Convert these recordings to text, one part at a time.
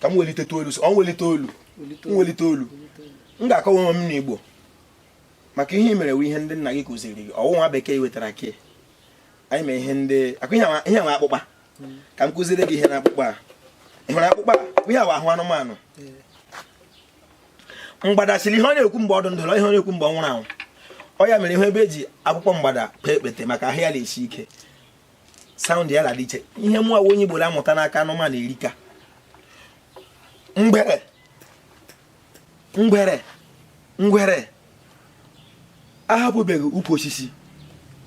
ka m welite olu ọ m welite olu m welite olu m ga-akọwa onwe m n'Igbo maka ihe i mere wu ihe ndị nna gị kụziri gị ọ wụ nwa bekee wetara ke anyị mee ihe ndị akụ ihe nwe akpụkpa hmm. ka m kụziri gị ihe na akpụkpa a ị hụrụ akpụkpa a ihe ahụ anụmanụ mgbada siri ihe ọ na-ekwu mgbe ọ dụ ndụ wụ ihe ọ na-ekwu mgbe ọ nwụrụ anwụ ọ ya mere ihe ebe e ji akpụkpọ mgbada kpee ekpete maka ahụ ya na-esi ike sound ya na-adị iche ihe mụ wụ onye Igbo la-amụta n'aka anụmanụ erika ngwere ngwere ngwere ahapụbeghị ukwu osisi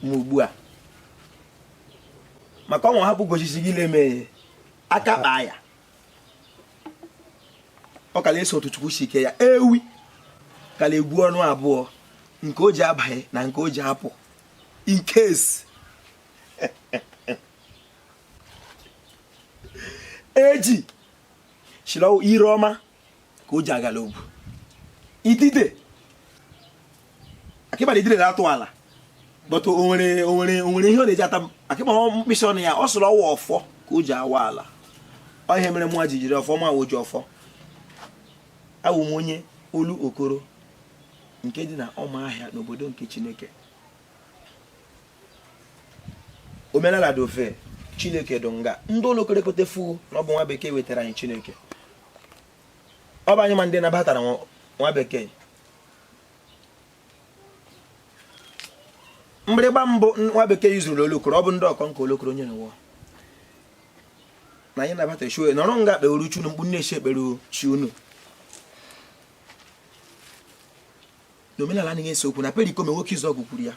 ma ugbu a maka ọnwa hapụ ukwu osisi gị na-eme aka kpaa ya ọ ka la-eso otu chukwu si kee ya ewi ka la-egwu ọnụ abụọ nke o ji abanye na nke o ji apụ in case eju sịrị ire ọma ka o ji aga l'ogwu idide akịbara idide na-atụ ala but o nwere o nwere o nwere ihe ọ na-eji ata akịbara mkpịsị ọnụ ya ọ sịrị ọ wụ ọfọ ka o ji awa ala ọ ihe mere mụa ji jiri ọfọ ma ojiọfọ awụ m onye olokoro nke dị na ụmụahịa n'obodo nke chineke omenala dị ofe chineke dị nga ndị olokoro ekwetafụ na ọ bụ nwa bekee wetara anyị chineke ọ bụ anyị ma ndị nabatara nwa bekee mgbịrịgba mbụ nwa bekee yuzuru olokoro ọ bụ ndị ọkọnkọ olokoro onye n'ụwa na anyị nabata chue nọrọ nga kpere chi unu otu unu si ekpere chi unu na omenala anaghị ese okwu na perikome nwoke izuọgụ kwuru ya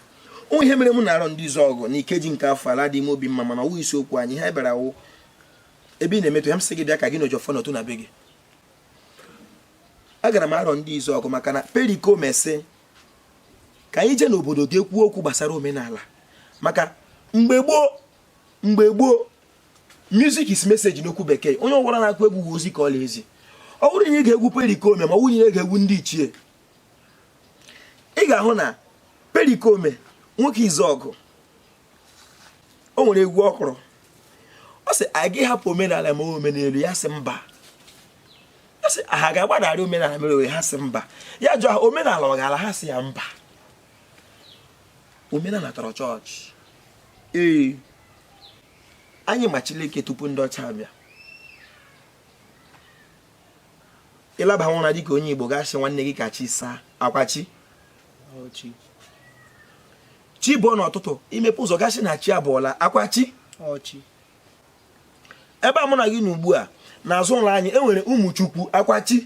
o nwe ihe mere m na arọndịzuọgụ na ikeji nke afọ a la-adị m obi mma mana ọ wụ isi okwu anyị ha bịara wụ ebe ị na-emetụ ya m sị gị bịa ka gị na ojiọfọ nọtụ na be gị agara m arọndịzuọgụ maka na perikome sị ka anyị jee n'obodo ga-ekwu okwu gbasara omenala maka mgbe gboo mgbe gboo music is message n'okwu bekee onye ọbụla na-akụ egwu bụ ozi ka ọ la-ezi ọ bụrụ na ị gee egwu perikome ma ọ wụrụ ị gee egwu ndị ichie ị ga-ahụ na perikome nwoke izuọgụ o nwere egwu ọ kụrụ ọ sị a ga-ahapụ omenala mee omenelu ya sị mba ọ sị ha ga-agbadara omenala mere owe ha sị mba ya jụọ ha omenala ọ ga-ala ha sị ya mba omenala tọrọ chọọchị ee anyị ma Chileke tupu ndị ọcha abịa ị laba ụra dịka onye Igbo ga-asị nwanne gị ka chi saa akwa chi chi bọọ n'ụtụtụ i mepe ụzọ ga-asị na chi abọọla akwa chi ebe a mụ na gị nọ ugbu a n'azụ ụlọ anyị e nwere Ụmụchukwu akwa chi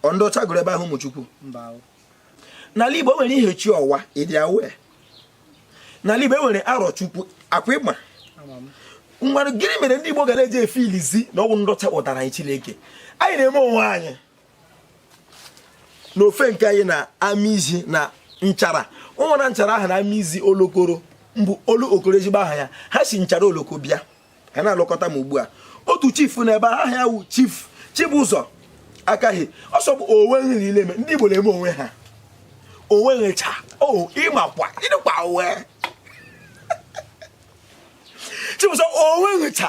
ọ ndị ọcha gụrụ ebe ahụ Ụmụchukwu n'ala Igbo e nwere Ihechiọwa ị dị aware n'ala Igbo e nwere Arọchukwu akwa ịgba mmadụ gịnị mere ndị Igbo gala eji efiilizi na ọ wụ ndị ọcha kpọtara anyị Chileke anyị na-eme onwe anyị na ofe nke anyị na Amizi na Nchara ọ wụ na Nchara ahụ na Amizi Olokoro mbụ Olu Okoro ezigbo aha ya ha si Nchara Oloko bịa ha na-alụkọta m ugbu a otu chief na ebe aha ya wụ chief Chibụzọ akaghị ọsọ bụ onwe nri niile eme ndị Igbo na-eme onwe ha onwe ncha o ị makwa ị dịkwa aware Chibụzọ onwe ncha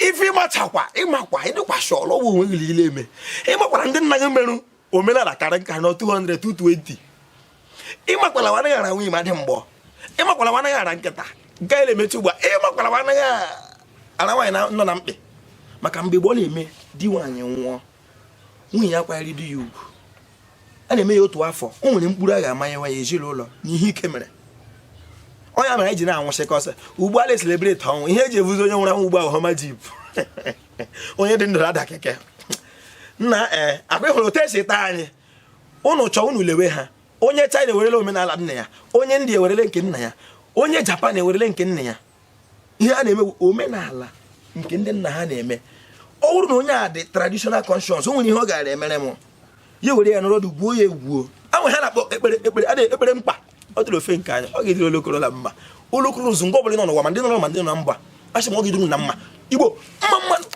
ife ị machakwa ị makwa ị dịkwa sure la ọ bụ onwe nri niile eme ị makwara ndị nna gị merụ omenala karị nka na 2020 ịmakwala wa anaghị ara nwunye mmadụ mgboo ịmakwala wa anaghị ara nkịta nke anyị na-emechi ugbu a ịmakwala wa anaghị ara nwaanyị nọ na mkpe maka mgbe gboo na-eme di nwaanyị nwụọ nwunye ya kwanyere di ya ugwu a na-eme ya otu afọ o nwere mkpụrụ a ga-amanye nwa ya ezinụlọ n'ihe ike mere onye mere anyị ji na-anwụsịkọsị ugbu a na-eselebreti ọnwụ ihe e ji ebuzi onye nwụrụ anwụ ugbu a Hummer jeep onye dị ndụ ada keke nna ee eh, akwa ị hụrụ otu e si taa anyị unu chọọ unu lewe ha onye China ewerele omenala nna ya onye India ewerele nke nna ya onye Japan ewerele nke nna ya ihe a na-eme omenala nke ndị nna ha na-eme ọ bụrụ na onye a dị traditional conscious o nwere ihe ọ gara emere m ya were ya nọrọ dị gbuo ya egwuo anwe ha na-akpọ ekpere mkpa ọ dịrị ofe nke anyị ọ ga-edịrị Olokoro na mma Olokoro zuo nga ọ bụla nọ n'ụwa ma ndị nọ na mba asị m ọ ga-edịrị unu mma Igbo mma mma